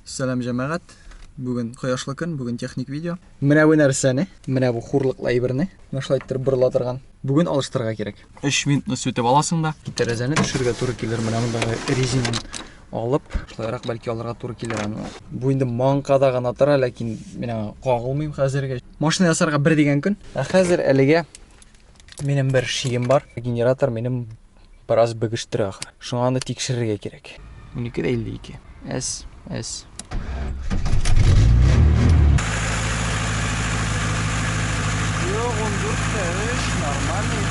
Сәлам җәмәгать. Бүген кояшлы көн, бүген техник видео. Менә бу нәрсәне, менә бу хурлыклы әйберне, менә шулай иттереп борыла торган. Бүген алыштырырга кирәк. 3 минутны сүтеп аласың да, тәрәзәне төшерергә туры килер. Менә мондагы резинаны алып, шулайрак бәлки алырга туры килер аны. Бу инде манкада гына тора, ләкин менә кагылмыйм хәзергә. Машина ясарга бер дигән көн. Ә хәзер әлегә минем бер шием бар. Генератор минем Бераз бөгештерә ахры. Шуңа аны тикшерергә кирәк. 12 дә 52. Әс, әс. Юк, 14 тә 3, нормальный.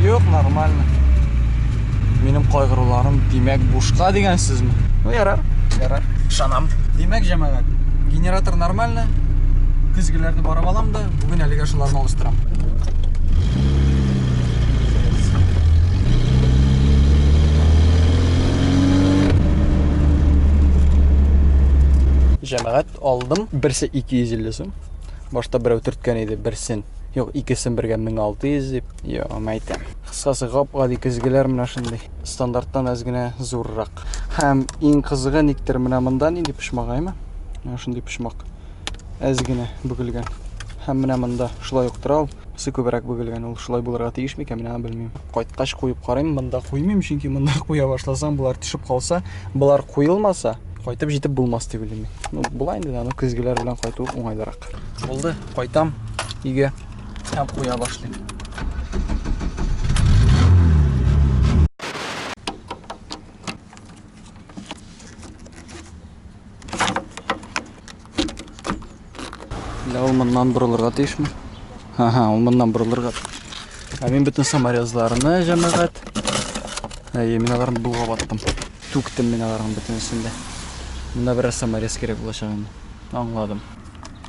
Юк, нормально. Минем кайгыруларым димәк бушка дигән сүзме? Ну, ярар, ярар. Шанам. Димәк, җәмәгать, генератор нормально. Көзгеләрне барып алам да. Бүген әлегә шуларны алыштырам. Җәмәгать алдым. Берсе 250 сум. Башта берәү төрткән иде, берсен. Юк, икесен бергә 1600 дип. Йо, мәйтәм. Кыскасы гап-гади көзгеләр менә шундый. Стандарттан әз генә зуррак. Һәм иң кызыгы никтер менә монда нинди почмагаймы? Менә шундый почмак. әз генә бөгелгән. Һәм менә монда шулай ук тора ул. Үзе күбрәк бөгелгән. Ул шулай булырга тиеш микән, менә белмим. Кайткач куеп карыйм, монда куймыйм, чөнки монда куя башласаң, болар төшеп калса, болар куелмаса, кайтып җитеп булмас дип уйлыйм. Ну, була инде, аны көзгеләр белән кайту уңайлырак. Булды, кайтам өйгә һәм куя башлыйм. Ля ул моннан борылырга тиешме? Ага, ул моннан борылырга. Ә мин бөтен саморезларны җәмәгать. Әйе, мин аларны булгап аттым. Түктем мин аларның бөтенесен дә. Монда бераз саморез кирәк булачак инде. Аңладым.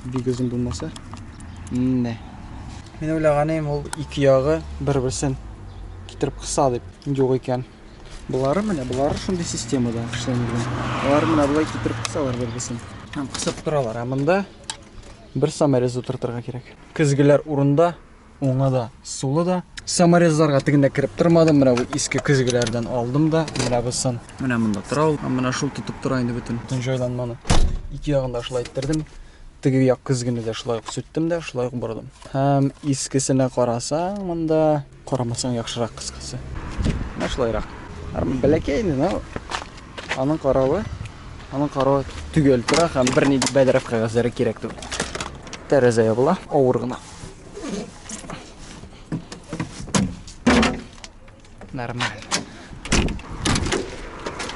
Бик озын булмаса. Менә. Мин уйлаганым ул ике ягы бер-берсен китереп кыса дип. Юк икән. Болары менә, болары шундый системада эшләнгән. Алар менә болай китереп кысалар бербесен. Һәм кысып торалар. Ә монда бер саморез утыртырга кирәк. Көзгеләр урында, уңы да, сулы да. Саморезларга тегендә кереп тормадым. Менә бу иске көзгеләрдән алдым да, менә бусын. Менә монда тора ул. Менә шул тотып тора инде бөтен. Бөтен җайланманы. Ике ягын да шулай иттердем. Теге як көзгене дә шулай ук сүттем дә, шулай ук бордым. Һәм искесенә карасаң, монда Карамасаң яхшырак кыскасы. Менә шулайрак. Армы бәләкәй инде, но аның каравы, аның каравы төгәл тора һәм берни бәдрәф кәгазьләре кирәк түгел. Тәрәзә ябыла, авыр гына. Нормально.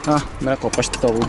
А, менә капкачты табылды.